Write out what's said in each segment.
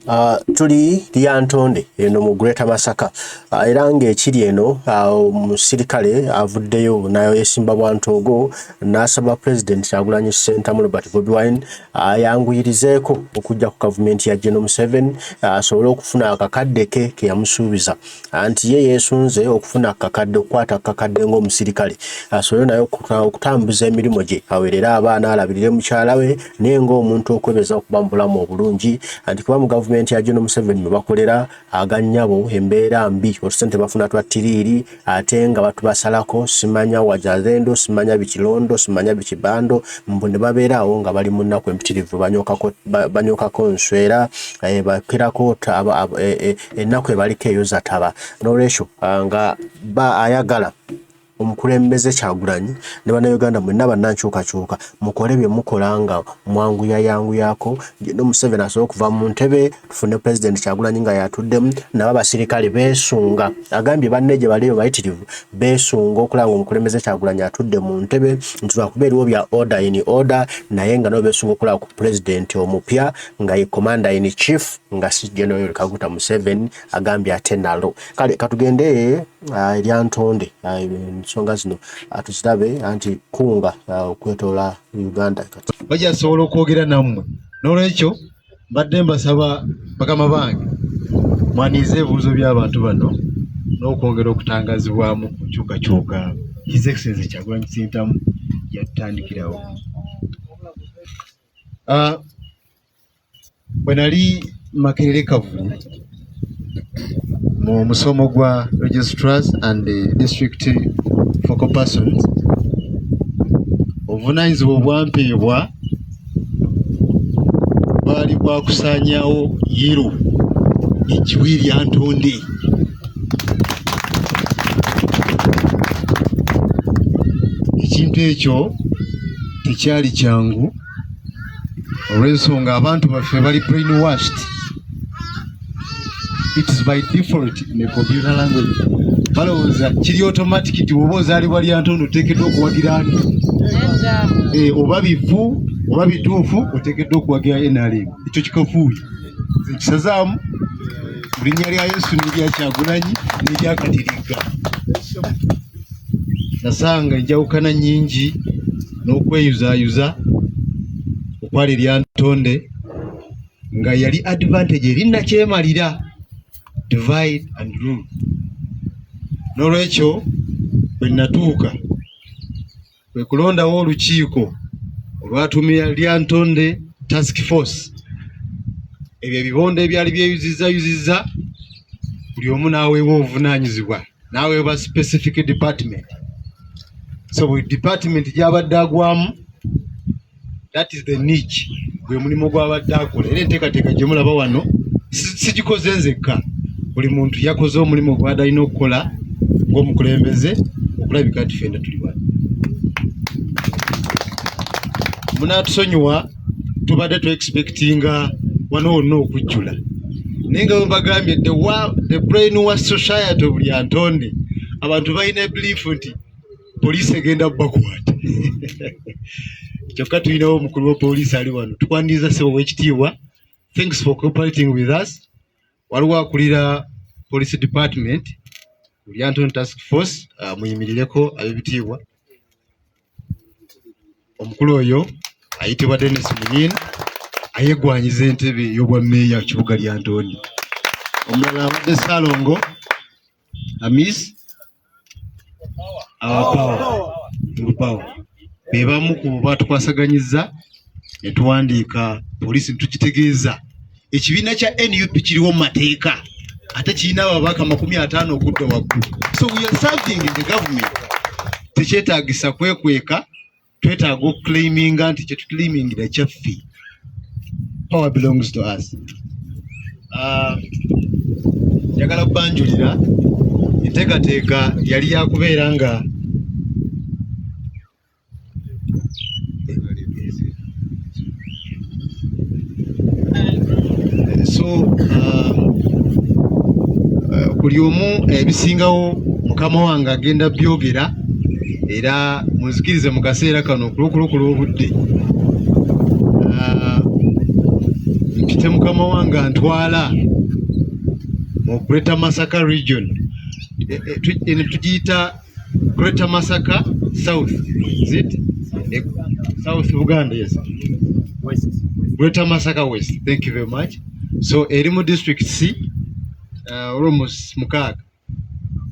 Uh, tuli lyantonde eno mu Greater Masaka uh, era ng'ekiri eno uh, omusirikale uh, avuddeyo nayo yesimba bwantoogo n'asaba pulezidenti Kyagulanyi Ssentamu Robert Bobi Wine ayanguyirizeeko uh, okujja ku gavumenti ya General Museveni uh, asobole uh, okufuna akakadde ke ke yamusuubiza anti ye yeesunze okufuna akakadde okukwata akakadde ng'omusirikale asobole naye okutambuza emirimu gye aweerere abaana alabirire mukyala we naye ng'omuntu okwebeza okuba mu bulamu obulungi anti kuba mu gavumenti ya geno museveni mwe bakolera agannyabo embeera mbi otusente bafuna twa tiriiri ate nga batubasalako simanya wajazendo simanya bikilondo simanya bikibando mbu ne babeera awo nga bali mu nnaku empitirivu banyokako nswera eh, bakerako eh, eh, ennaku ebaliko eyo zataba nolwekyo ah, nga ba ayagala omukulembeze kyagulanyi ne bannayuganda mwenna bannankyukakyuka mukole bye mukola nga mwanguyayanguyako no museveni asobola okuva mu ntebe tufune pulezidenti kyagulanyi nga yatuddemu nabo abasirikale beesunga agambye banne gye baliyo bayitirivu beesunga okulaba nga omukulembeze kyagulanyi atudde mu ntebe nti lwakuba eriwo bya order in order naye nga nabo beesunga okulaba ku pulezidenti omupya nga ye commander in chief nga si General Yoweri Kaguta Museveni agambye ate nalo kale katugende uh, erya ntonde ah, ensonga uh, zino ah, tuzirabe anti kunga okwetoola uh, Uganda kati bajasobola okwogera nammwe n'olwekyo mbadde mbasaba bakama bange mwaniize ebibuuzo by'abantu bano n'okwongera okutangazibwamu ku nkyukakyuka his excellency kyagulanyi sentamu yatandikirawo Bwe nali Makerere Kavulu mu musomo gwa registrars and the district focal persons, obuvunanyizibwa obwampeebwa bwali bwa kusaanyawo yiru ekiwi lya ntonde ekintu ekyo tekyali kyangu. olw'ensonga abantu baffe bali brain washed it is by default in a computer language balowooza kiri automatic ti oba ozaalibwa lyantono oteekeddwa okuwagira ani eh, oba bivu oba bituufu oteekeddwa okuwagira nrm ekyo kikafuuyo ekisazaamu mu linnya lya yesu nerya kyagulanyi neryakatiriga nasanga enjawukana nyingi n'okweyuzayuza okwali erya ntonde nga yali advantage eri nakyemalira divide and rule n'olwekyo bwe natuuka kwe kulondawo olukiiko olwatumira Lyantonde Task Force. Ebyo ebibondo ebyali byeyuzizza yuzizza buli omu n'aweebwa obuvunaanyizibwa n'aweebwa specific department. So buli department gy'abadde agwamu that is the niche gwe mulimu gw'abadde akola era enteekateeka gye mulaba wano sigikoze nzekka buli muntu yakoze omulimu gwada alina okukola ng'omukulembeze okulabika nti fenda tuli wano munaatusonyiwa tubadde tu expectinga wano wonna okujjula naye nga wembagambye the brain wa society buli antonde abantu balina biliifu nti poliisi egenda bakwata kyokka tulinawo omukulu wa poliisi ali wano tukwaniriza sebo wekitiibwa thanks for cooperating with us waliwo akulira police department lyanton task force uh, muyimirireko abebitiibwa omukulu oyo ayitibwa denis muyin ayegwanyiza entebe eyobwa meeya kibuga lyantoni omulala abadde salongo Amis awapawa tulupawa be bamu ku baatukwasaganyizza ne tuwandiika poliisi tukitegeeza ekibiina kya nup kiriwo mu mateeka ate kirina ababaka makumi ataano okudda waggulu so we are serving in the government tekyetagisa kwekweka twetaaga okuclaiminga nti kyetuclaimingira kyaffe power belongs to us ah, njagala kubanjulira enteekateeka yali yakubeera nga eh, so um, eh, buli omu ebisingawo mukama wange agenda byogera era munzikirize mu kaseera kano okulokulokola obudde ah, mpite mukama wange antwala mu greater masaka region eh, eh, tugiyita Greater Masaka South is it e, South Uganda yes West Greater Masaka West thank you very much so eri mu district C uh, almost mukaaga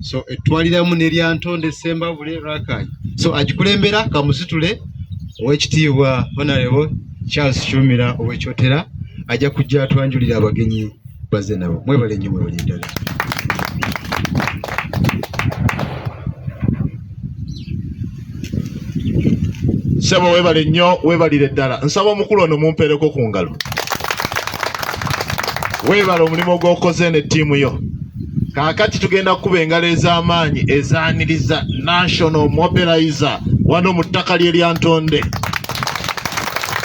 so etwaliramu neryantonde sembabule rakanyi so agikulembera kamusitule owekitiibwa honarebo charles shumira owekyotera ajja kujja atwanjulira abagenyi baze nabo mwebale nnyo mwebale ddala sebo webale nnyo webalire ddala nsaba omukulu ono mumpeereko ku ngalo webale omulimu gwokoze ne ttiimu yo kaakati tugenda kukuba engalo ez'amaanyi ezaaniriza national mobilizer wano mu ttaka lyeryantonde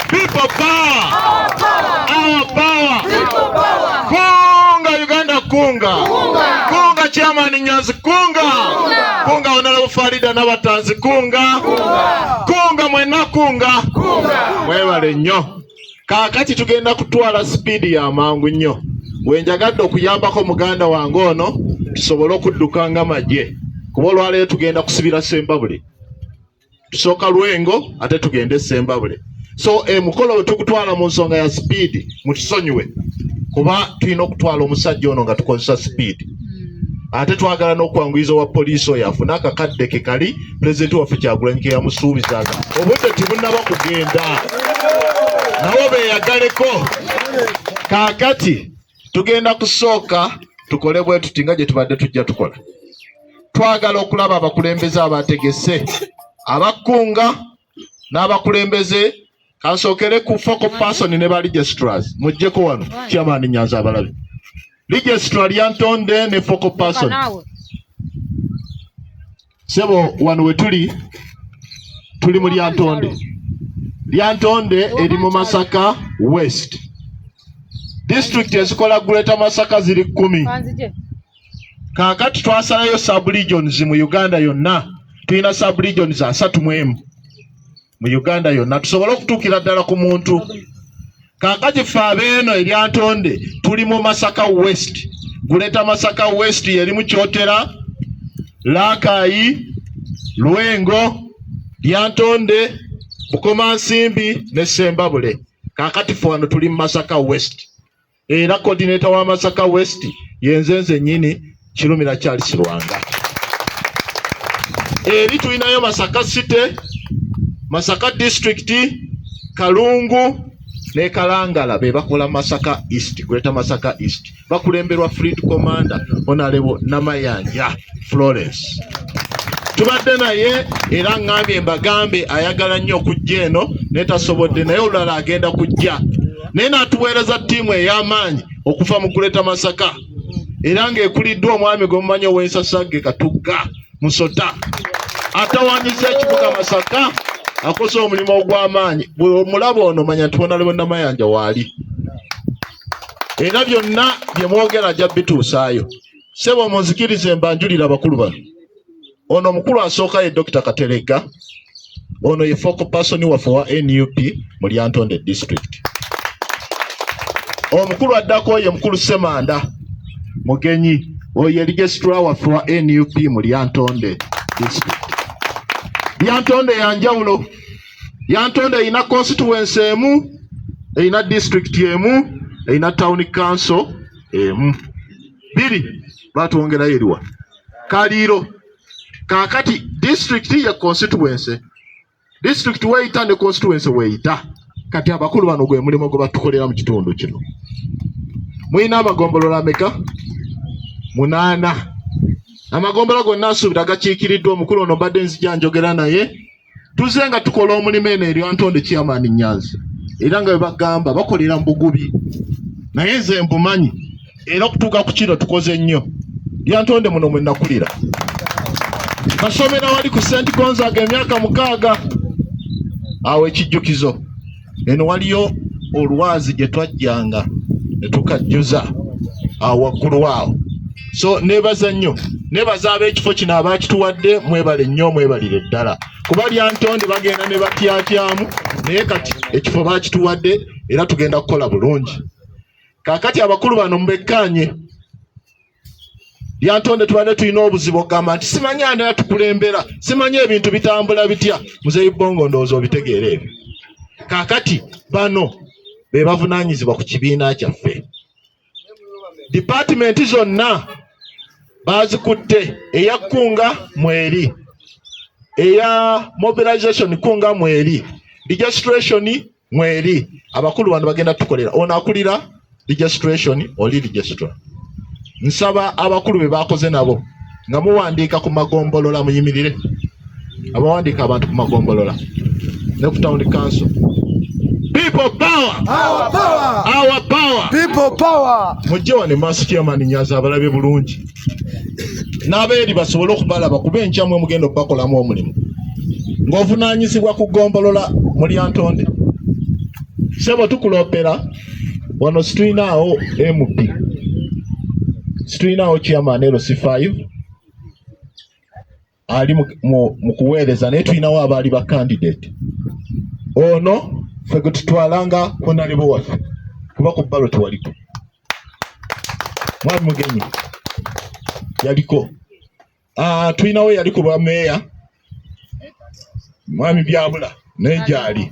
People power. Our power. Our power. People power. Kunga Uganda kunga. Kunga. Kunga chairman Nyanzi kunga. Kunga. Kunga Honorable Farida Nabatanzi kunga. Kunga. Kunga mwena kunga. Kunga. Mwebale nnyo. Kaakati tugenda kutwala sipiidi ya mangu nnyo. Wenjagadde okuyambako muganda wange ono tusobole okudduka nga magye. Kuba olwaleero tugenda kusibira Sembabule. tusooka lwengo ate tugende esembabule so emukolo eh, wetugutwala mu nsonga ya sipiidi mutusonyiwe kuba tulina okutwala omusajja ono nga tukozesa sipiidi hmm. ate twagala n'okwanguyiza owa poliisi oyo afune akakadde ke kali pulezidenti waffe kyagulanyi ke yamusuubizaga obudde tibunaba kugenda nawo beyagaleko kakati tugenda kusooka tukole bwe tuti nga gye tubadde tujja tukola twagala okulaba abakulembeze abategese abakkunga n'abakulembeze kasookere ku focal person ne ba registrars mujjeko wano kyamaani nyanza abalabi registrar lyantonde ne focal person sebo wano wetuli tuli mu lyantonde lyantonde eri mu masaka west disitulikiti ezikola greater masaka ziri kumi kakati twasalayo sub regions mu uganda yonna tulina sub regions asatu mu emu mu Uganda yonna tusobole okutuukira ddala ku muntu kakati fe abeeno eryantonde tuli mu Masaka West guleeta Masaka West yerimu Kyotera Laakayi Lwengo Lyantonde Bukomansimbi ne Sembabule kakati fe wano tuli mu Masaka West era coordinator wa Masaka West yenze nze nyini Kirumira Charles Lwanga eri tulinayo Masaka City Masaka District Kalungu ne Kalangala be bakola Masaka East Greater Masaka East bakulemberwa Fleet Commander Honorable Namayanja Florence tubadde naye era ŋŋambye mbagambe ayagala nnyo okujja eno naye tasobodde naye olulala agenda kujja naye n'atuweereza ttiimu ey'amaanyi okuva mu kuleta masaka era ng'ekuliddwa omwami gwe mumanyi ow'ensasagge katugga musota atawanyiza ekibuga masaka akoze omulimu ogw'amaanyi bwe omulaba ono manya nti bona lebonamayanja waali era byonna bye mwogera ajja bituusaayo sebo munzikirize mbanjulira abakulu bano Ono omukulu asooka ye Dr. Kateregga. Ono ye focal person waffe wa NUP mu Lyantonde district. Omukulu addako ye mukulu Semanda Mugenyi. Oyo ye registrar waffe wa NUP mu Lyantonde district. Lyantonde ya njawulo. Lyantonde erina constituency emu, erina district emu, erina town council emu. Biri batwongerayo eriwa? kaliiro kakati district ye constituency district weyita ne constituency weyita kati abakulu bano gwe mulimu gwe batukolera mu kitundu kino mulina amagombolola ameka munaana amagombolola gonna nsuubira gakiikiriddwa omukulu ono mbadde nzija njogera naye tuze nga tukola omulimu eno erya ntonde kyamaani nyanzi era nga webagamba bakolera mubugubi naye nze mbumanyi era okutuuka ku kino tukoze nnyo lyantonde muno mwenakulira basomera wali ku senti gonzaga emyaka mukaaga awo ekijjukizo eno waliyo olwazi gye twajjanga ne tukajjuza awo waggulu awo so nebaza nnyo nebaza ab'ekifo kino abaakituwadde mwebale nnyo mwebalire ddala kuba lyantonde bagenda ne batyatyamu naye kati ekifo baakituwadde era tugenda kukola bulungi kaakati abakulu bano mubekkaanye yantonde tubadde tulina obuzibu okugamba nti simanyi ani atukulembera simanyi ebintu bitambula bitya muzeyi bongo ndowooza obitegeera ebyo kakati bano be bavunanyizibwa ku kibiina kyaffe dipatimenti zonna bazikutte eya kunga mweri eya mobilization kunga mweri registration mweri abakulu bano bagenda tukolera ono akulira registration oli registrar nsaba abakulu be bakoze nabo nga muwandiika ku magombolola muyimirire abawandiika abantu ku magombolola ne ku town council people power our power our power people power mujje wano maaso chairman nyaza abalabye bulungi n'abeeri basobole okubalaba kuba enkya mwe mugenda okubakolamu omulimu ng'ovunaanyizibwa ku ggombolola mu lyantonde sebo tukuloopera wano situlinaawo mp situlinaawo chairman lc 5 ali mu kuweereza naye tulinawo abaali ba candidate ono fe gwe tutwalanga honalebo waffe kuba ku balo tewaliko mwami mugenyi yaliko ah, tulinawo yali ku bwameeya mwami byabula naye gyali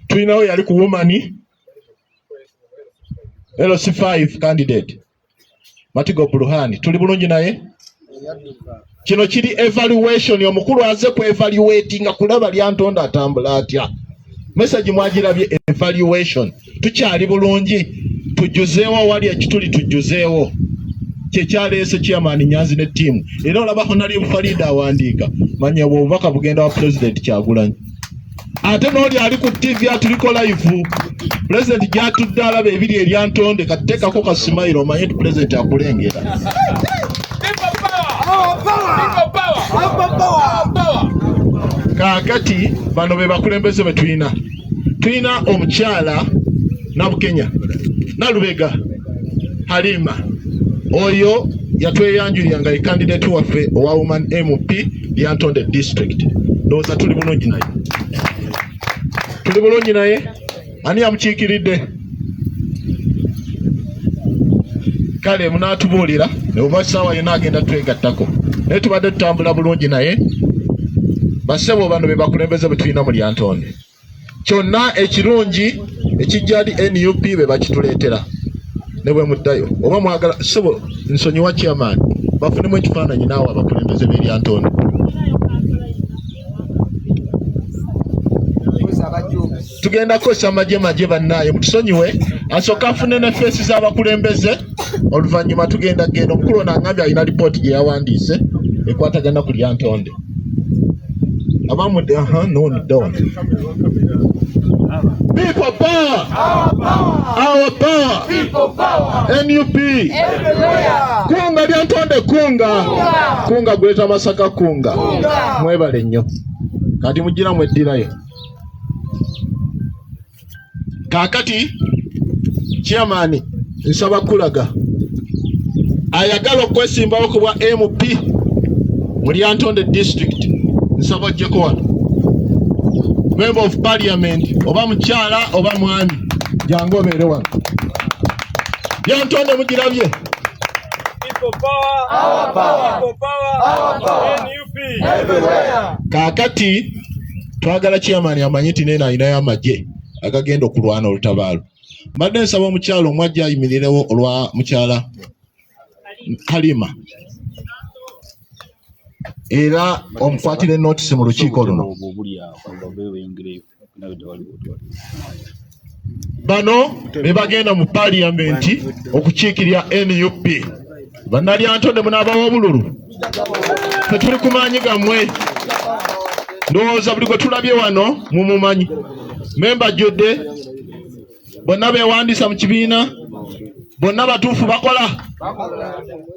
tulinawo yali ku womani LC5 candidate Matigo Bruhani tuli bulungi naye kino kiri evaluation omukulu aze ku evaluatinga kulaba lyantonda atambula atya message mwagirabye evaluation tukyali bulungi tujuzeewo awali ekituli tujuzeewo kyekyaleese chairman nyanzi ne ttiimu era olaba honali farida awandiika manya obwo obubaka bugenda wa pulezidenti kyagulanyi ate n'oli ali ku ttivi atuliko layivu pulezidenti gyatudde alaba ebiri eryantonde kateekako ka simayiro omanye nti pulezidenti akulengera kaakati bano be bakulembeze be tulina tulina omukyala nabukenya nalubega halima oyo yatweyanjulira nga ye kandidati waffe owa woman mp Lyantonde district ndowooza tuli bulungi naye tuli bulungi naye ani yamukiikiridde kale munaatubuulira oba saawa yona agenda twegattako naye tubadde tutambula bulungi naye basebo bano bebakulembeze bwetulina mu lyantonde kyonna ekirungi ekijjali nup be bakituleetera ne bwe muddayo oba mwagala sebo nsonyiwa chairman bafunemu ekifaananyi naawe abakulembeze b'eryantondo tugenda kukozesa magye magye bannaaye mutusonyiwe asooka afune ne feesi z'abakulembeze oluvannyuma tugenda kugenda omukulu ono angambye alina lipooti gye yawandiise ekwatagana ku lyantonde Abamu de aha no ni don. People power. Our power. Our power. People power. NUP. Everywhere. Kunga lya ntonde kunga. Kunga gweta masaka kunga. Mwebale nnyo. Kati mujira mweddirayo. kaakati chairman nsaba kulaga ayagala okwesimbawo ku bwa mp mu lyantonde district nsaba ojjeko wano member of parliament oba mukyala oba mwami jangu obeere wano lyantonde mugirabye kaakati twagala chairman amanye nti neeno alinayo amagye agagenda okulwana olutabaalo mbadde nsaba omukyala omu ajja ayimirirewo olwa mukyala kalima era omukwatire notisi mu lukiiko luno bano be bagenda mu paliyamenti okukiikirira nup bannalyantonde munaabawa obululu fe tuli ku maanyi gammwe ndowooza buli gwe tulabye wano mumumanyi memba jjodde bonna beewandiisa mu kibiina bonna batuufu bakola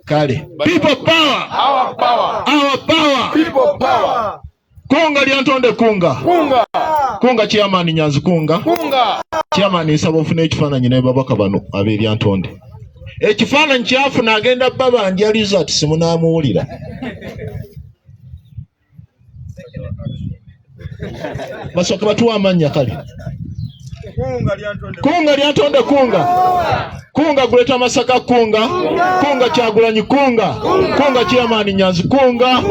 kale people power our power our power people power Kunga lyantonde kunga. Kunga. Kunga chairman Nyanzi kunga. Kunga. Chairman nsaba ofune ekifaananyi ne babaka bano ab'eryantonde. Ekifaananyi kyafuna agenda baba ndya result simunaamuwulira. Basooka batuwa amannya kale. kunga lyantonde kunga kunga guleta masaka kunga kunga kyagulanyi kunga kunga chairman nyanzi kunga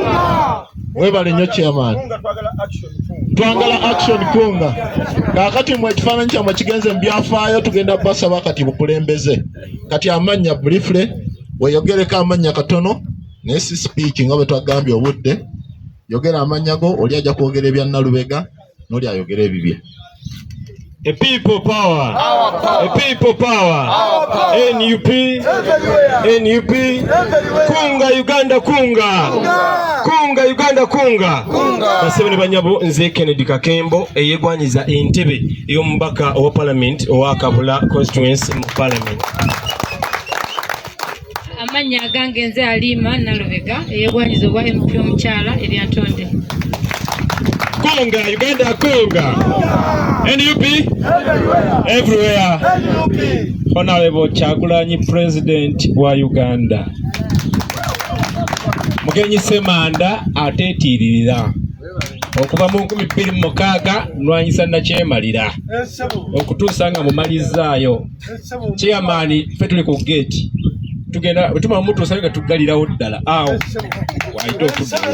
webale nyo chairman twangala action kunga kakati mwe ekifaananyi kyamwe kigenze mu byafaayo tugenda basaba kati bukulembeze kati amannya briefly weyogereko amannya katono naye si speech nga bwe twagambye obudde yogera amannya go oli ajja kwogera ebya nalubega noli ayogera ebibye A people power. Our power. A people power. Our power. NUP. Everywhere. NUP. Everywhere. Kunga Uganda kunga. Kunga, kunga Uganda kunga. Kunga. Basebene banyabo nze Kennedy Kakembo eyegwanyiza entebe ey'omubaka owa parliament owa Kabula constituency mu parliament. amannya agange nze aliima nalubega eyebwanyiza obwa mp omukyala eryantonde konga uganda konga nup everywhere honorable kyagulanyi president wa uganda mugenyi semanda atetiiririra okuva mu nkumi bbiri mu mukaaga nwanyisa nakyemalira okutuusa nga mumalizzaayo chairman ffe tuli ku gate tugenda wetuma mutuusa nga tuggalirawo ddala awo waite okuddawo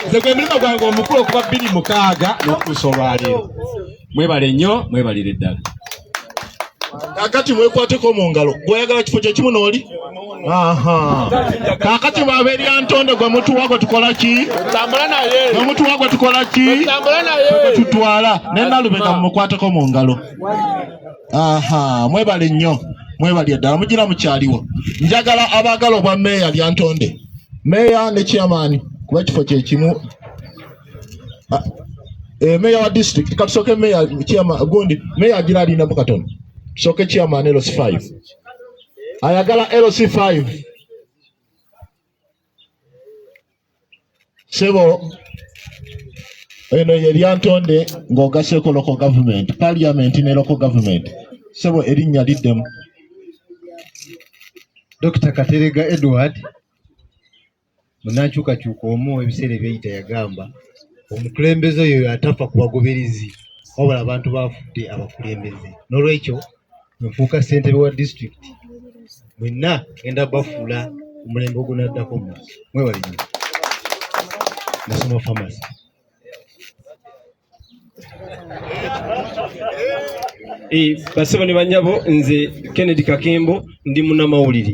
nze gwe mulimu gwange omukulu okuba bbiri mukaaga n'okutuusa olwaleero mwebale nnyo mwebalire ddala kakati mwekwateko mu ngalo gweoyagala kifo kyekimu nooli kakati bwaberi antonde gwe mutuwa gwe tukola ki gwe mutuwa gwe tukola ki gwe tutwala nenalubega mumukwateko mu ngalo aha mwebale nnyo mwebalye ddala mugira mukyaliwo njagala abaagala obwa meeya lyantonde meeya ne chairman kuba ekifo kyekimu ah, eh, meeya wa district katusooke meeya chairman gundi meeya agira alinamu katono tusooke chairman lc 5 ayagala lc 5 sebo eno ye lyantonde ng'ogaseko loko government parliament ne loko government sebo erinnya liddemu Dr. Katerega Edward munankyukakyuka omu ebiseera ebyeyita yagamba omukulembeze oyo yatafa ku bagoberezi wabula abantu bafudde abakulembeze n'olwekyo nfuuka ssentebe wa disitulikiti mwenna genda bafuula omulembe ogunaddako mu mwebale nyo nasoma famasi eh, basebo ne banyabo nze kennedy kakembo ndi munamawulire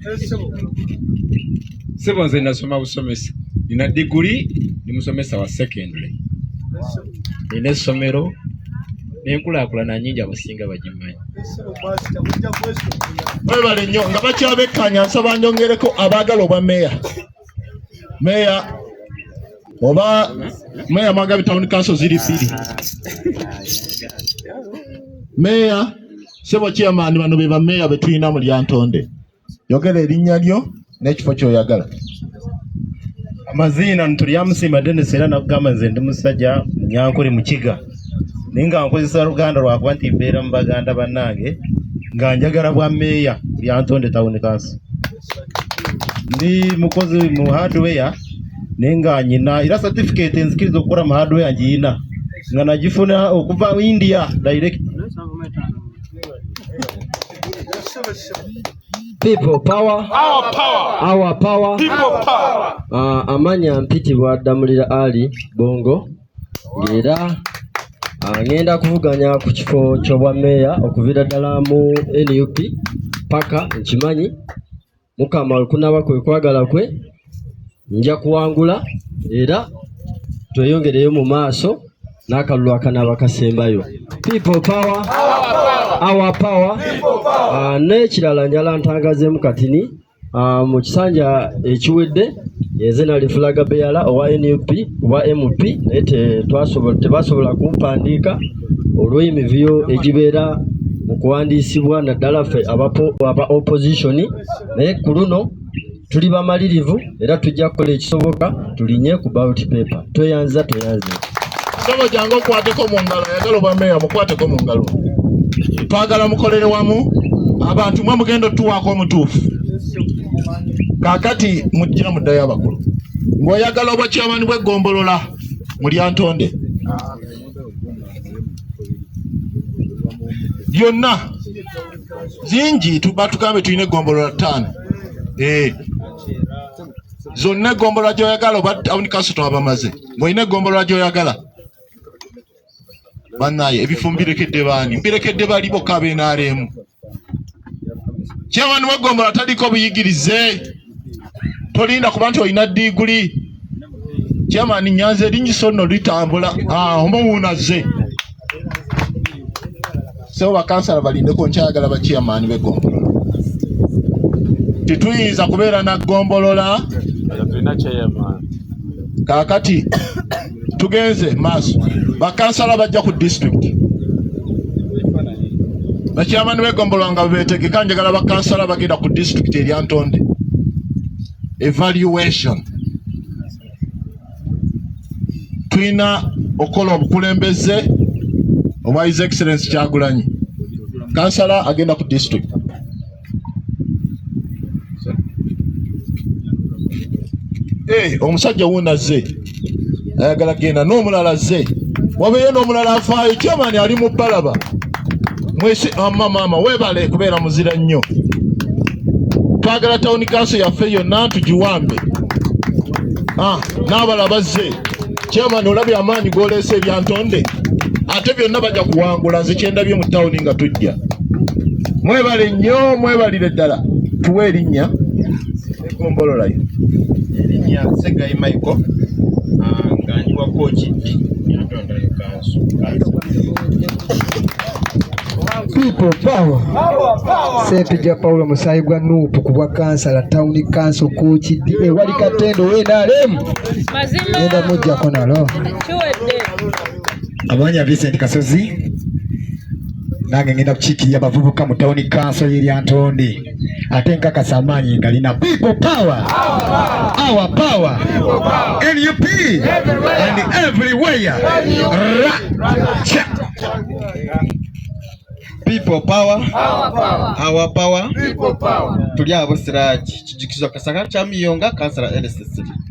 sebo nze nasoma busomesa nina diguli ndi musomesa wa secondary nina essomero nenkulakulana nyingi abasinga bagimanyi webale nnyo nga bakyabekkanya nsaba njongere-ko abaagala obwa meeya meeya oba meeya mwagabi tawuni kanso ziri bbiri meeya Sebo chairman bano be bameeya be tulina mu Lyantonde. Yogera erinnya lyo n'ekifo ky'oyagala. Amaziina Ntulyamusiima Dennis era nakugamba nze ndi musajja Munyankore Mukiga naye nga nkozesa Luganda lwakuba nti mbeera mu baganda bannange nga njagala bwa meeya Lyantonde Town Council. ndi mukozi mu hardware naye nga nyina era certificate enzikiriza okukola mu hardware ngiyina nga nagifuna okuva India direct People power. Our power. Our power. People power. Uh, amanya mpitibwa Damulira Ali Bongo. era ngenda kuvuganya ku kifo ky'obwa meeya okuviira ddala mu nup paka nkimanyi mukama olukunaba kwe kwagala kwe nja kuwangula era tweyongereyo mu maaso n'akalulu akanaaba kasembayo people power our power ah, n'ekirala njala ntangazemu katini Ah, mu kisanja ekiwedde eze nali fulaga beyala owa nup owa mp naye tebasobola kumpandiika olw'emivuyo egibeera mu kuwandiisibwa naddala ffe aba opposition naye ku luno tuli bamalirivu era tujja kukola ekisoboka tulinye ku ballot paper toyanza toyanza Mugabo jangu okwateko mu ngalo ayagala obwa meeya mukwateko mu ngalo twagala mukolere wamu abantu mwe mugenda otuwaako omutuufu kakati mujja muddayo abakulu ng'oyagala obwa kyamani bw'eggombolola mulyantonde byonna zingi tuba tugambe tulina eggombolola ttaano ee eh. zonna egombolola gyoyagala oba tawuni kanso twabamaze ngaolina egombolola gyoyagala banaye ebifo mbirekedde baani mbirekedde bali bokka abenaaleemu kyewani wegombola taliko buyigirize tolinda kuba nti olina diguli kyemani nyanza erinyiso nno litambula ah, omuwuunaze sebo bakansala balindeko nkyayagala bakiyamaani begombolola tituyinza kubeera na gombolola kakati tugenze maaso bakansala bajja ku district bakyamani begombolola nga bebetegeka njagala bakansala bagenda ku district eryantonde evaluation tulina okukola obukulembeze obwa his excellence kyagulanyi kansala agenda ku district eh, omusajja wuuno azze ayagala kugenda n'omulala azze wabeeyo n'omulala afaayo kyamaani ali mu balaba mwesi amma ah, maama webale kubeera muzira nnyo twagala tawuni kanso yaffe yonna ntugiwambe ah, n'abala bazze chairman olabye amaanyi goleese ebyantonde ate byonna bajja kuwangula nze kyendabye mu tawuni nga tujja mwebale nnyo mwebalire ddala tuwe erinnya egombololayo erinnya segayi michael ah, nga ndi wa kooki People power. Ssempijja Paulo musaayi gwa nuupu ku bwa kansala tawuni kanso kuukiddi ewali katendo wenalemu genda mujjako nalo amanya Vincent Kasozi nange ngenda kukiikirira abavubuka mu tawuni kanso y'eryantonde ate nkakasa amaanyi ngalina people power our power nup and everywhere people power our power tuli abo siraki kijikizwa kasaka chamiyonga kansala lss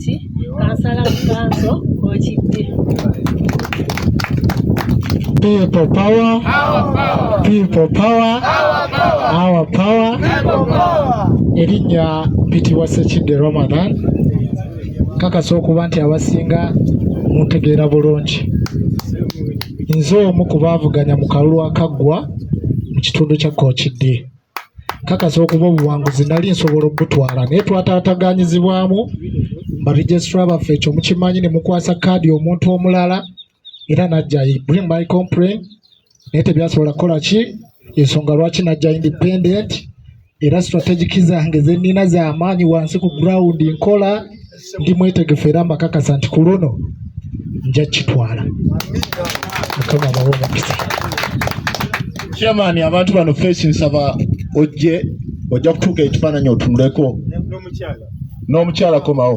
ki kansala mukanso okidde People power, people power, our power. Erinnya bitibwa Ssekidde Ramadan. Kakasa okuba nti abasinga muntegeera bulungi. Nze omu ku baavuganya mu kalulu akaggwa mu kitundu kya Kookidde. kakasa okuba obuwanguzi nali nsobola okugutwala naye twataataganyizibwamu baregistra baffe ekyo mukimanyi ne mukwasa kaadi omuntu omulala era najja bring my complain naye tebyasobola kukola ki ensonga lwaki najja independent era strategic zange zenina zamaanyi wansi ku ground nkola ndi mwetegefu era mbakakasa nti ku luno nja kitwala mukama abawe omukisa chairman abantu bano fesi nsaba ojje ojja kutuuka ekifaananyi otunuleko n'omukyala komawo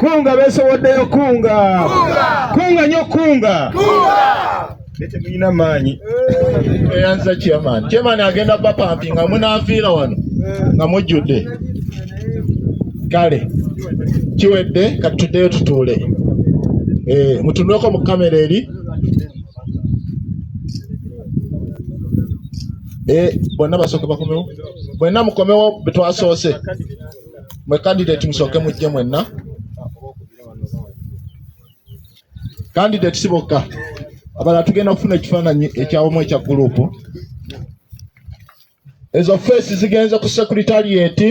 Kunga beesowoddeyo kunga. Kunga nyo kunga. Tetulina maanyi. Eyanza chairman. Chairman agenda bapampi nga munaafiira wano nga mujjudde. Kale kiwedde kati tuddeyo tutuule. Eh, mutunuleko mu kamera eri. Eh, bonna basooke bakomewo. Bonna mukomewo betwasoose. mwe candidate musooke mujje mwenna candidate si bokka abala tugenda kufuna ekifaananyi ekyawamu ekya gurupu ezo feesi zigenze ku sekuritarieti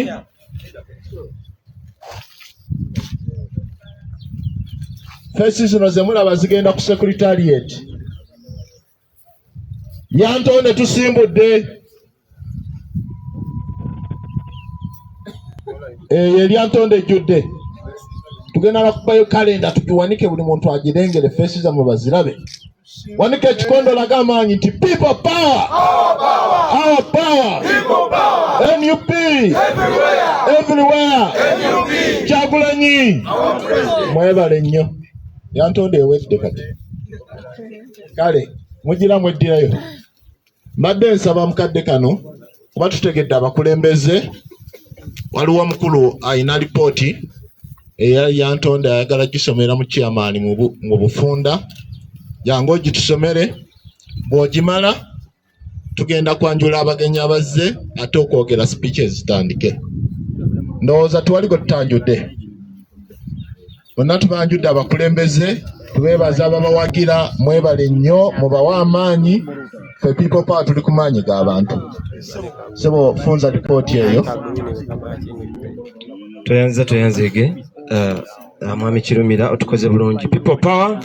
feesi zino zemulaba zigenda ku sekuritarieti yantonde tusimbudde eyo eh, eryantonde ejjudde tugenda nakubayo kalenda tugiwanike buli muntu agirengere feesi zamwe bazirabe wanika ekikondo laga amaanyi nti people power our power nup everywhere kyagulanyi mwebale nnyo yantonde ewedde kati kale mugira mweddirayo mbadde nsaba mukadde kano kuba tutegedde abakulembeze waliwo omukulu alina lipooti eya yantonda ayagala gisomera mu chairman mu bufunda jangu ogitusomere bw'ogimala tugenda kwanjula abagenyi abazze ate okwogera sipiiki ezitandike ndowooza tuwali gwe tutanjudde bonna tubanjudde abakulembeze tubeebaza ababawagira mwebale nnyo mubawe amaanyi fe people power tuli ku maanyi g'abantu sebo funza lipooti eyo tweyanziza tweyanzege uh, Ah, mwami kirumira otukoze bulungi people power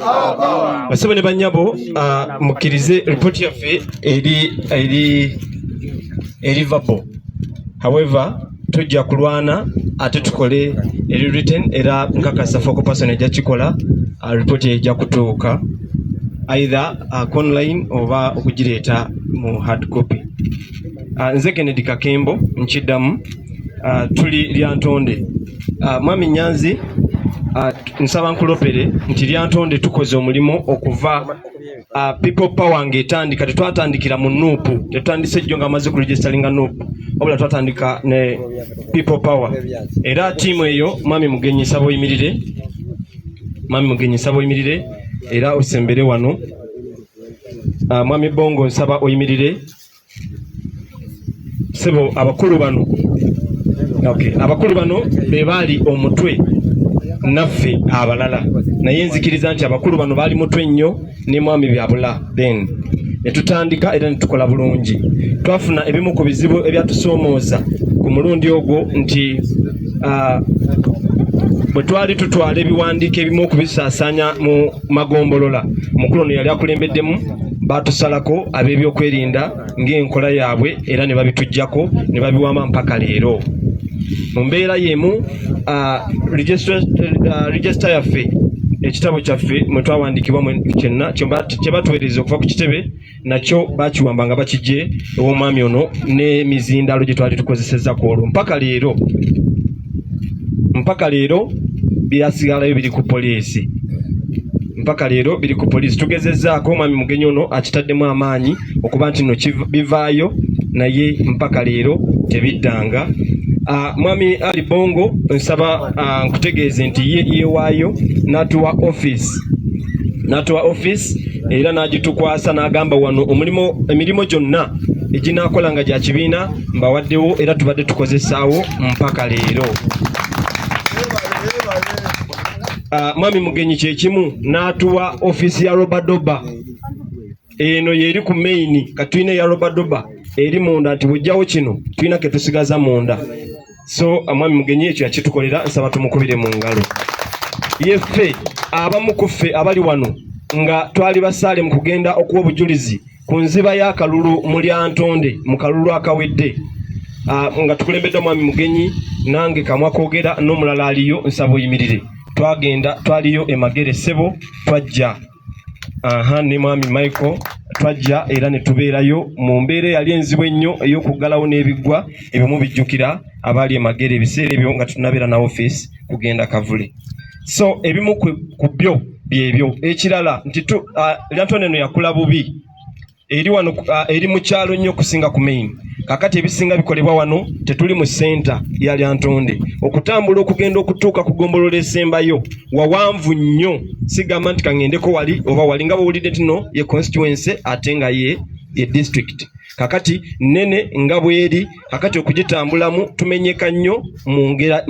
basebo ne banyabo ah, mukkirize ripoti yaffe eri eri eri vabo however tujja kulwana ate tukole eri written era nkakasa foko person ejja kikola ah, ripoti ejja kutuuka either uh, online oba okugireeta mu hard copy Ah, nze Kennedy Kakembo nkiddamu ah, tuli lyantonde ah, mwami Nyanzi nsaba nkulopere nti lyantonde tukoze omulimu okuva people power ng'etandika tetwatandikira mu nuupu tetutandise jjo nga amaze kuregisteringa nuupu wabula twatandika ne people power era tiimu eyo mwami mugenyi nsaba oyimirire mwami mugenyi nsaba oyimirire era osembere wano mwami bongo nsaba oyimirire sebo abakulu bano okay. abakulu bano be baali omutwe naffe abalala naye nzikiriza nti abakulu bano baali mutwe nnyo ne mwami byabula then ne tutandika era ne tukola bulungi twafuna ebimu ku bizibu ebyatusoomooza ku mulundi ogwo nti uh, bwe twali tutwala ebiwandiiko ebimu okubisaasaanya mu magombolola mukulu ono yali akulembeddemu baatusalako ab'ebyokwerinda ng'enkola yaabwe era ne babitujjako ne babiwama mpaka leero mu mbeera y'emu regisita yaffe ekitabo kyaffe mwe twawandiikibwa kyenna kye batuweereza okuva ku kitebe nakyo bakiwamba nga bakijje ew'omwami ono n'emizindaalo gye twali tukozesezza ku olwo mpaka leero mpaka leero byasigalayo biri ku poliisi mpaka leero biri ku poliisi tugezezzaako omwami mugenyi ono akitaddemu amaanyi okuba nti no bivaayo naye mpaka leero tebiddanga Uh, mwami Ali Bongo nsaba uh, nkutegeeze nti ye yewaayo n'atuwa office n'atuwa office era n'agitukwasa n'agamba wano omulimu emirimu gyonna eginaakola nga gya kibiina mbawaddewo era tubadde tukozesaawo mpaka leero ah, mwami mugenyi kyekimu n'atuwa office ya robadoba eno yeri ku maini kati tulina eya robadoba eri munda nti bujjawo kino tulina ketusigaza munda so amwami mugenyi ekyo yakitukolera nsaba tumukubire mu ngalo yeffe abamu ku ffe abali wano nga twali basaale mu kugenda okuwa obujulizi ku nziba y'akalulu mu lyantonde mu kalulu akawedde ah, nga tukulembedde omwami mugenyi nange kamwa kogera n'omulala aliyo nsaba oyimirire twagenda twaliyo emagere sebo twajja aha ne mwami michael twajja era ne tubeerayo mu mbeera eyali enzibu ennyo ey'okuggalawo n'ebiggwa ebimu bijjukira abaali emagere ebiseera ebyo nga tunabeera na ofiisi kugenda kavule so ebimu ku byo byebyo ekirala nti lantono eno yakula bubi eri wano uh, eri mu kyalo nnyo okusinga ku main kakati ebisinga bikolebwa wano tetuli mu senta ya lyantonde okutambula okugenda okutuuka ku gombolola esembayo wawanvu nnyo sigamba nti kaŋendeko wali oba wali nga bwowulidde tino ye constituency ate nga ye ye district kakati nene nga bweri kakati okugitambulamu tumenyeka nnyo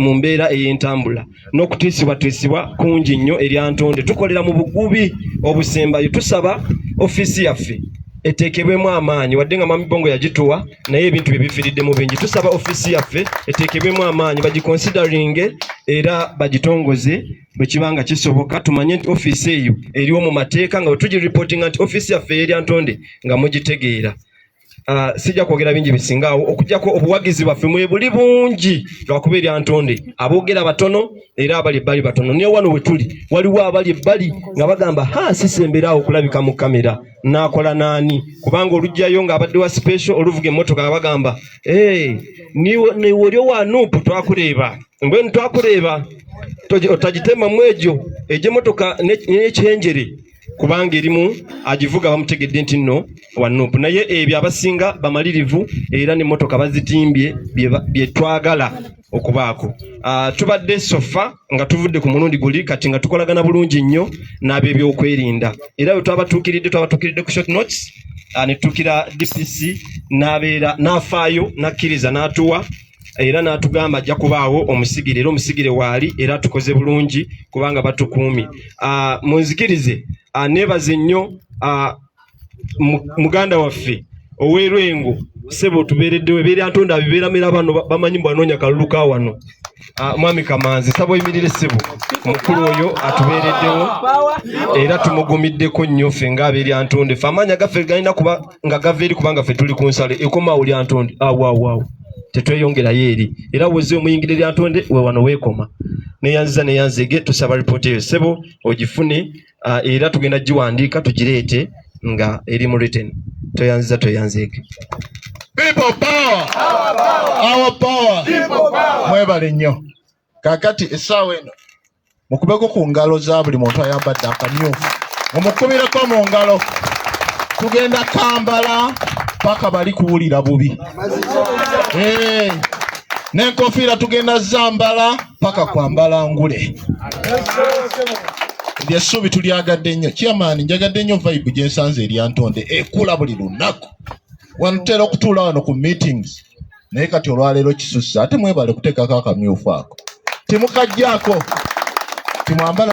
mu mbeera ey'entambula n'okutiisibwatiisibwa kungi nnyo erya ntonde tukolera mu bugubi obusembayo tusaba ofiisi yaffe eteekebwemu amaanyi wadde nga mami bongo yagituwa naye ebintu bye bifiiriddemu bingi tusaba ofiisi yaffe eteekebwemu amaanyi bagikonsideringe era bagitongoze bwe kiba nga kisoboka tumanye nti ofiisi eyo eriwo mu mateeka nga bwe tugiripootinga nti ofiisi yaffe eyerya ntonde nga mugitegeera Uh, sijja kwogera bingi bisingaawo okujjako obuwagizi bwaffe mwebuli bungi lwakuba erya ntonde aboogera batono era abali ebbali batono naye wano wetuli waliwo abali ebbali nga bagamba ha sisemberaawo okulabika mu kamera naakola naani kubanga olugjayo nga abadde wa special oluvuga emmotoka nga bagamba hey, eh, niwolyo wa nupu twakureeba mbwenu twakureeba otagitemamu egyo egyemotoka nekyenjere kubanga erimu agivuga bamutegedde nti nno wanupu naye ebyo abasinga bamalirivu era nemotoka bazitimbye byetwagala okubaako ah, tubadde sofa nga tuvudde ku mulundi guli kati nga tukolagana bulungi nnyo n'abebyokwerinda era bwe twabatuukiridde twabatuukiridde ku short notes ah, netuukira dpc n'abeera n'afaayo n'akkiriza n'atuwa era n'atugamba ajja kubaawo omusigire era omusigire waali era tukoze bulungi kubanga batukuumi ah, munzikirize ah, neebaze nnyo ah, muganda waffe ow'erwengo sebo tubeereddewo ebeera ntonda bibeeramira bano bamanyi mbu anoonya kalulu ka wano Ah, mwami kamanzi saba oyimirire ssebo mukulu oyo atubeereddewo era tumugumiddeko nnyo ffe ng'abeeryantonde fe amaanya gaffe galina kuba nga gava eri kubanga ffe tuli ku nsalo ekomaawo lya ntonde awaawaawo ah, tetweyongerayo eri era woze omuyingira erya ntonde we wano weekoma neyanziza neyanzege tusaba ripooti eyo ssebo ogifune ah, era tugenda giwandiika tugireete nga eri mu written tweyanziza tweyanzeege mwebale nnyo kakati essaawa eno mukubeko ku ngalo za buli muntu ayambadde akamyufu omukubireko mu ngalo tugenda kambala paka bali kuwulira bubi eh, nenkofiira tugenda zambala paka kwambala ngule lyessuubi tulyagadde nnyo kyamaani njagadde nnyo vibe gyensanze eryantonde ekula buli lunaku wanutera okutuula wano ku meetings naye kati olwaleero kisusse ate mwebale kuteekako akamyufu ako temukajjaako timwambala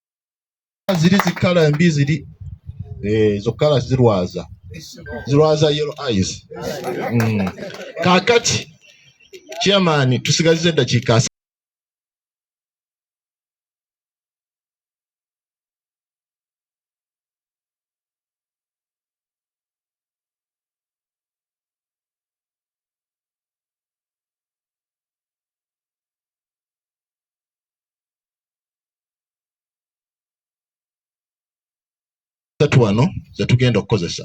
ziri zikala mbi ziri eh, ezo kala zirwaza zirwaza yellow eyes mm. kakati chairman tusigazize eddakiika satu wano ze tugenda okukozesa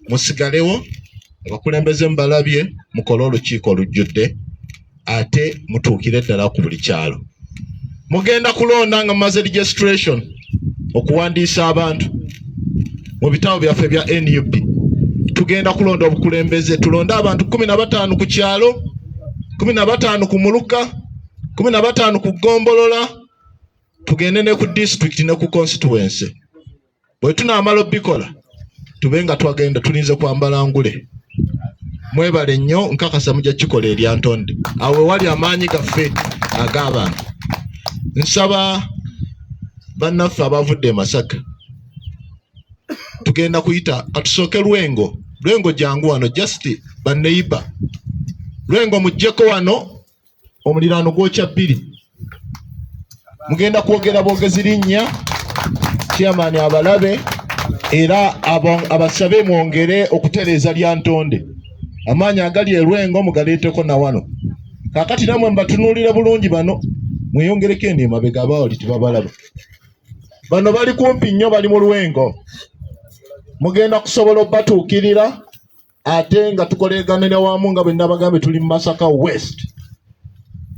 musigalewo abakulembeze mubalabye mukole olukiiko olujjudde ate mutuukire ddala ku buli kyalo mugenda kulonda nga mumaze registration okuwandiisa abantu mu bitabo byaffe bya nup tugenda kulonda obukulembeze tulonde abantu kumi na bataano ku kyalo kumi na bataano ku muluka kumi na bataano ku ggombolola tugende ne ku disitulikiti ne ku konsituwense bwe tunaamala obikola tube nga twagenda tulinze kwambala ngule mwebale nnyo nkakasa mujja kikola erya ntonde awo ewali amaanyi gaffe ag'abantu nsaba bannaffe abavudde emasaka tugenda kuyita katusooke lwengo lwengo jangu wano just baneiba lwengo mujjeko wano omuliraano gwokya bbiri mugenda kwogera bwogezi linnya chairman abalabe era abasabe mwongere okutereeza lya ntonde amaanyi agali erwengo mugaleeteko na wano kakati namwe mbatunuulire bulungi bano mweyongereko eno emabega abawali tebabalaba bano bali kumpi nnyo bali mu lwengo mugenda kusobola obatuukirira ate nga tukoleganira wamu nga bwe nabagambye tuli mu masaka west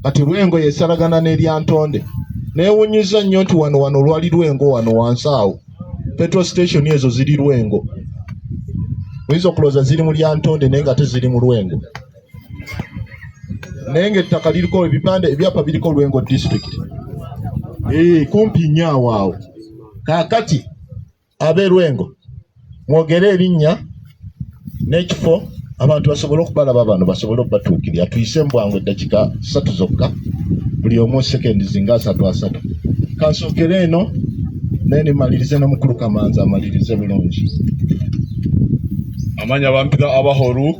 kati lwengo yesalagana n'eryantonde newunyiza nnyo nti wano wano lwali lwengo wano wansi awo petrol station ezo ziri lwengo oyinza okulooza ziri mu lyantonde naye nga teziri mu lwengo naye nga ettaka liriko ebipande ebyapa biriko lwengo district ee eh, kumpi nnyo awaawo kaakati ab'e Lwengo mwogere erinnya n'ekifo abantu basobole okubalaba bano basobole okubatuukirira tuyise mu bwangu eddakiika ssatu zokka buli omu sekendi zinga asatu asatu kansokere eno naye nemalirize na mukulu kamanzi amalirize bulungi amanya bampita abahoruk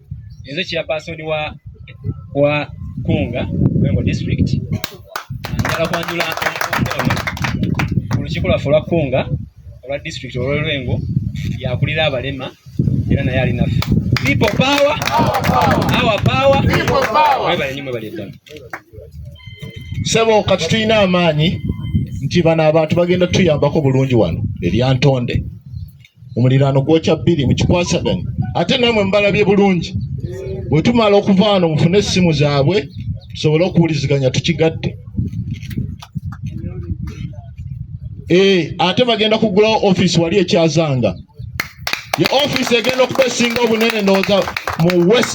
nze kya password wa wa kunga Mengo district njagala kwanjula olukiiko lwaffe olwa kunga olwa district olwolwengo yakulira abalema era naye ali naffe people power our power people power mwebale nyimwe bali ddala sebo kati tulina amaanyi nti bano abantu bagenda tuyambako bulungi wano eryantonde omuliraano gwokya bbiri mukikwasaganye ate namwe mubalabye bulungi bwetumala okuva wano mufune essimu zaabwe tusobole okuwuliziganya tukigatte eh, ate bagenda kugulawo ofiisi wali ekyazanga ye ofiisi egenda okuba esinga obunene ndowooza mu west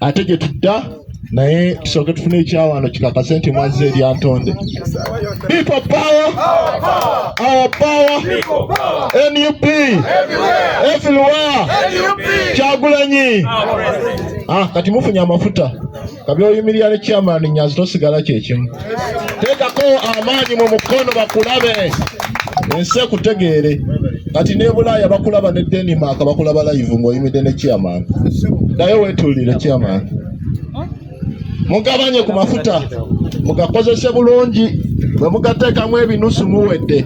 ate gye tudda naye tusooke tufune ekyawaano kikakase nti mwazza eryantonde people power our power nup everywhere kyagulanyi ah, kati mufunye amafuta kabyoyimirira ne chairman nyazi tosigala kyekimu tekako amaanyi mu mukono bakulabe ensi ekutegeere kati ne bulaaya bakulaba ne denmark bakulaba live ngaoyimidde ne chairman naye wetulire chairman mugabanye ku mafuta mugakozese bulungi bwe mugateekamu ebinusu muwedde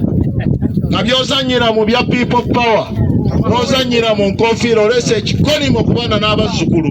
nga byozanyira mu bya people power nozanyira mu nkofiira oleese ekikolimo ku baana n'abazzukulu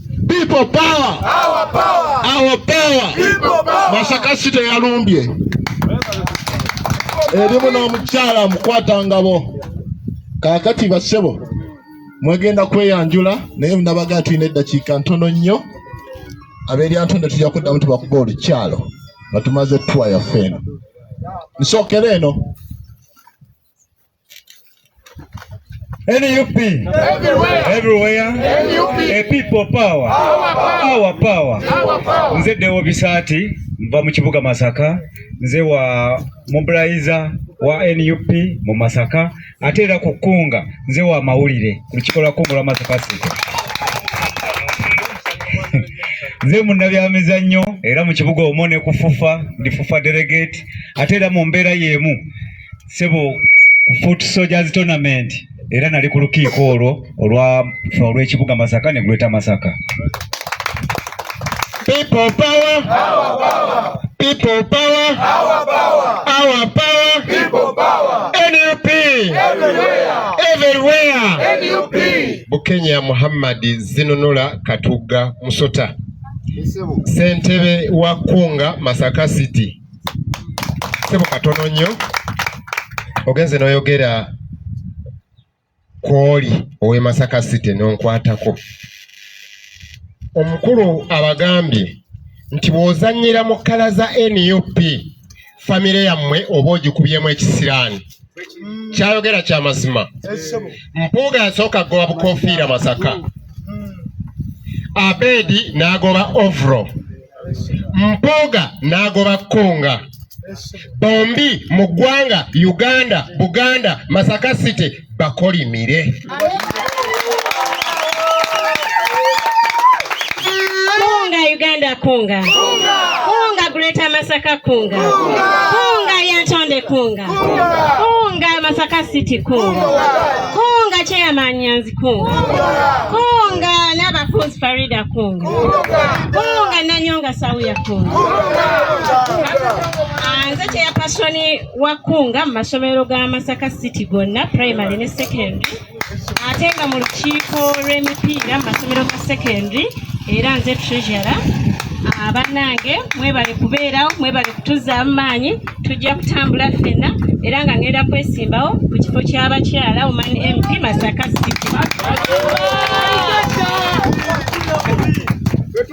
People power. Our power. Our power. People power. Masaka City yalumbye erimu n'omukyala mukwata ngabo kakati basebo mwegenda kweyanjula naye nabagaa tulina eddakiika ntono nnyo aberyantonde tujja kuddamu tubakuba olukyalo nga tumaze tuwa yaffe eno nsookera eno NUP everywhere, everywhere. NUP. A people power, our power, our power. Our power. Nze Deo Bisati nva mu kibuga Masaka, nze wa mobilizer wa NUP mu Masaka ate era ku Kunga nze wa mawulire ku lukiiko lwa Kungula Masaka City nze munnabyamizannyo era mu kibuga omwo ne kufufa ndi fufa delegate ate era mu mbeera y'emu sebo ku foot soldiers tournament era nali ku lukiiko olwo olwa olw'ekibuga masaka ne greater masaka people power our power people power our power our power people power nup everywhere everywhere nup bukenya muhammad zinunula katugga musota ssentebe wa kunga masaka city sebo katono nnyo ogenze noyogera kwoli owe masaka city nonkwatako omukulu abagambye nti bwozanyira mu kkala za nup famire yammwe oba ogikubyemu ekisiraani mm. kyayogera kya mazima mpuuga yasooka goba bukofiira masaka mm. abedi n'agoba ovro mpuuga n'agoba kunga bombi mu ggwanga uganda buganda masaka city bakolimire Kunga Uganda kunga. Kunga. Kunga Greater Masaka kunga. Kunga. Kunga Yantonde kunga. Kunga. Kunga Masaka City kunga. Kunga Chairman Nyanzi kunga. Kunga Nabafunzi Farida kunga. Kunga Nanyonga Sauya kunga. Kunga. Anze Chairperson wa Kkunga mu masomero ga Masaka City gonna primary ne secondary ate nga mu lukiiko lw'emipiira mu masomero ga secondary era nze treasurer abanange ah, mwebale kubeerawo mwebale kutuzaamu maanyi tujja kutambula ffenna era nga ngenda kwesimbawo ku kifo ky'abakyala oman mp masaka city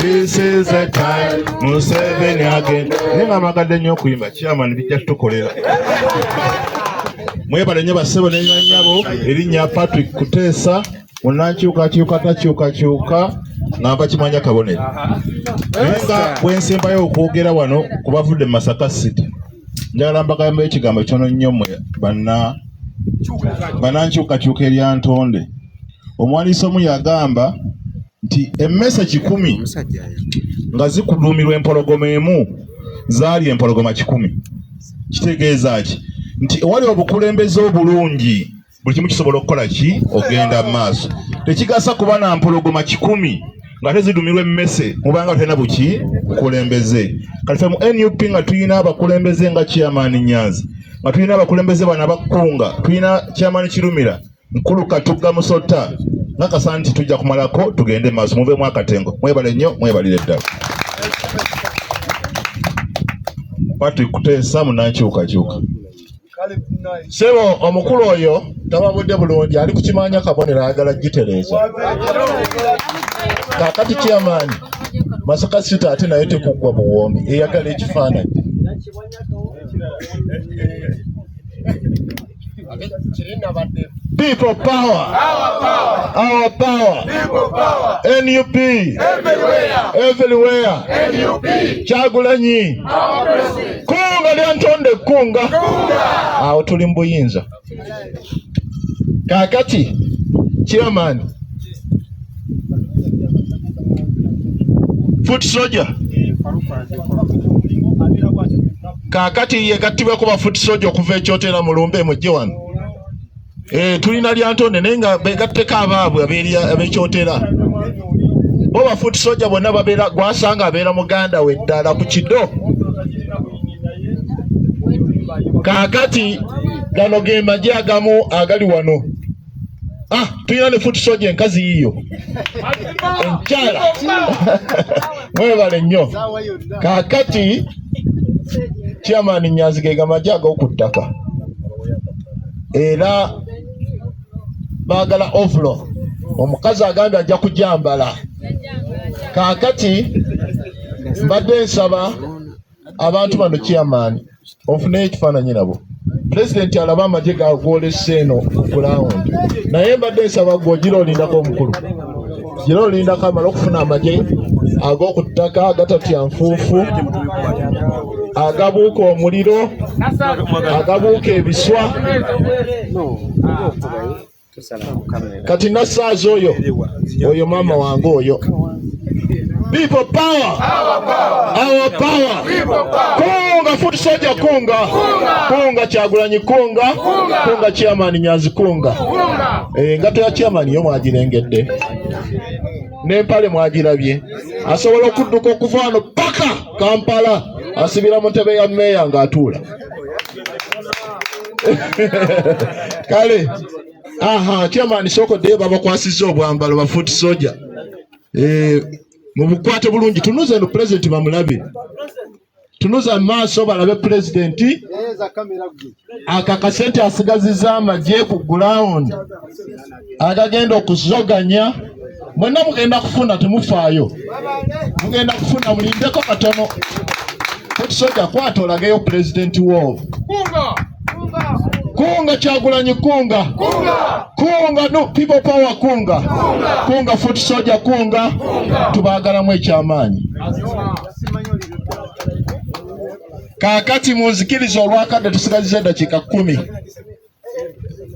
This is a time Museveni again. Naye nga mwagadde nnyo okuyimba chairman bijja tutukolera. Mwebale nnyo bassebo ne nyanyabo erinnya Patrick Kuteesa munankyukakyuka takyukakyuka nga mpakimanya kabonero. Naye nga bwe nsembayo okwogera wano ku bavudde mu Masaka City njagala mbagambe ekigambo kyono nnyo mwe banna banankyukakyuka erya ntonde. Omuwandiisi omu yagamba nti emmese kikumi nga zikuduumirwa empologoma emu zaali empologoma kikumi kitegeeza ki nti ewali obukulembeze obulungi buli kimu kisobola okukola ki ogenda mu maaso tekigasa kuba na mpologoma kikumi nga tezidumirwa emmese mubanga tulina buki bukulembeze kati fe mu nup nga tulina abakulembeze nga chairman nyanzi nga tulina abakulembeze bana bakkunga tulina chairman kirumira mukulu katugga musota nakasa nti tujja kumalako tugende maaso muvemu akatengo mwebale nnyo mwebalire ddala patrick kuteesa munankyukakyuka sebo omukulu oyo tababudde bulungi ali kukimanya kabonero ayagala gitereeza kakati kyamaanyi masaka sita ate naye tekuggwa buwoomi eyagala ekifaananyi People power. Our power. Our power. People power. NUP. Everywhere. Everywhere. NUP. Kyagulanyi. Our president. Kunga lya ntonde kunga. Kunga. Awo tuli mbuyinza. Kakati. Chairman. foot soldier kakati ye gattibwe kuba foot soldier okuva ekyotera mu lumbe mujje wano eh tulina lyantonde naye nga begatteko abaabwe abekyotera bo ba foot soldier bonna babeera gwasanga abeera muganda we ddala ku kido kakati gano ge magye agamu agali wano Ah, tulina ne foot soja enkazi yiyo enkyala mwebale nnyo kakati chairman nyanzi ge gamaje ag'oku ttaka era baagala ovulo omukazi agambye ajja kujambala kakati mbadde nsaba abantu bano kyamaani ofunayo ekifaananyi nabo pulezidenti alaba amagye gagwolesa eno gulawundi naye mbadde nsaba gwe ogira olindako omukulu gira olindako amala okufuna amagye ag'oku ttaka agatatya nfuufu agabuuka omuliro agabuuka ebiswa kati nasaaza oyo oyo maama wange oyo People power. Our power. Our power. People power. Kunga foot soldier kunga. Kunga. Kunga kyagulanyi kunga. Kunga, kunga chairman nyazi kunga. Kunga. Eh, ngato ya chairman yo mwagirengedde. Ne pale mwagirabye. Asobola okudduka okuva wano paka Kampala asibira mu ntebe ya meeya ng'atuula. kale aha chairman soko de baba kwasiza obwambalo ba foot soldier eh mubukwate bulungi tunuze no president bamulabe tunuza maaso balabe president akakasente asigaziza amagye ku ground agagenda okuzoganya mwenna mugenda kufuna temufaayo mugenda kufuna mulindeko katono tetusoja kwata olageyo pulezidenti wo kunga kyagulanyi kunga kunga no people power kunga kunga foot soja kunga tubagalamu ekyamaanyi kakati munzikiriza olwakadde tusigaziza eddakiika kumi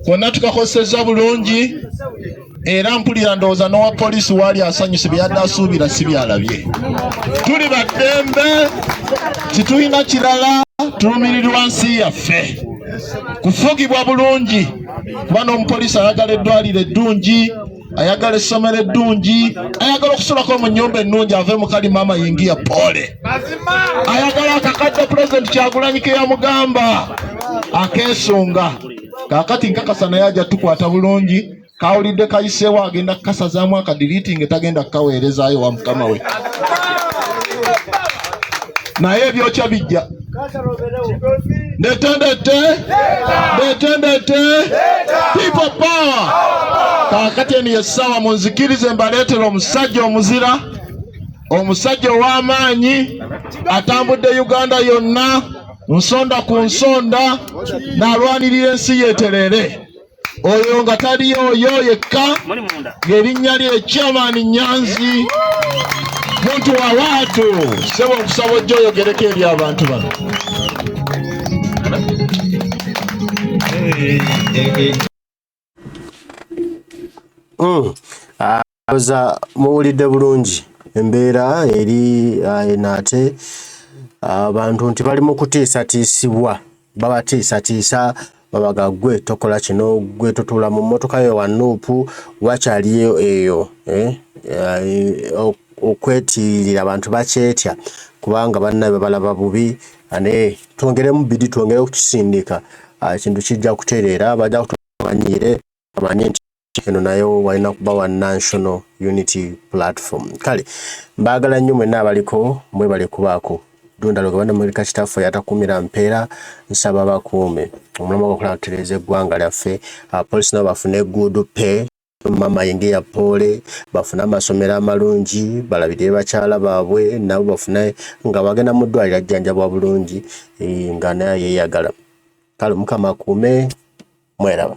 konna tukakozesezza bulungi era mpulira ndowooza n'owa poliisi waali asanyuse byeyadde asuubira si byalabye tuli baddembe titulina kirala tulumirirwa nsi yaffe kufugibwa bulungi kuba n'omupoliisi ayagala eddwaliro eddungi ayagala essomero eddungi ayagala okusulako mu nyumba ennungi ave mu kali maama yingiya pole ayagala akakadde pulezidenti kyagulanyi ke yamugamba akeesunga kakati nkakasa naye ajja tukwata bulungi kawulidde kayiseewo agenda kukasazaamu akadiriti nga tagenda kukaweerezaayo wa mukama we naye ebyokya bijja Ndetendete, ndetendete, people power. Kakati eno yessawa munzikirize mbaleetera omusajja omuzira, omusajja ow'amaanyi atambudde Uganda yonna nsonda ku nsonda n'alwanirira ensi yeetereere. oyo nga taliyo oyo yekka ng'erinnya lye chairman nyanzi muntu wa waatu sebo okusaba ojja oyogereko eri abantu bano Mm. Uh, Oza muwulidde bulungi embeera eri uh, eno ate abantu uh, nti bali mu kutiisatiisibwa babatiisatiisa babaga gwe tokola kino gwe totuula mu mmotoka yo wanuupu wakyaliyo eyo eh? uh, okwetiirira abantu bakyetya kubanga bannabe babalaba bubi naye twongeremu bidi twongere okukisindika ekintu kijja kutereera bajja kutumanyiire amanye nti eno nayo walina kuba wa national unity platform kale mbaagala nnyo mwenna abaliko mwebale kubaako dundalo gabana mulika kitaffe yatakumira mpeera nsaba bakuume omulamu gwakola kutereeza eggwanga lyaffe abapolisi nabo bafune egguudu pe mama yenge ya pole bafune amasomero amalungi balabirire bakyala baabwe nabo bafune nga bagenda mu ddwaliro ajjanjabwa bulungi eh, nga naye yeyagala kale mukama akuume mweraba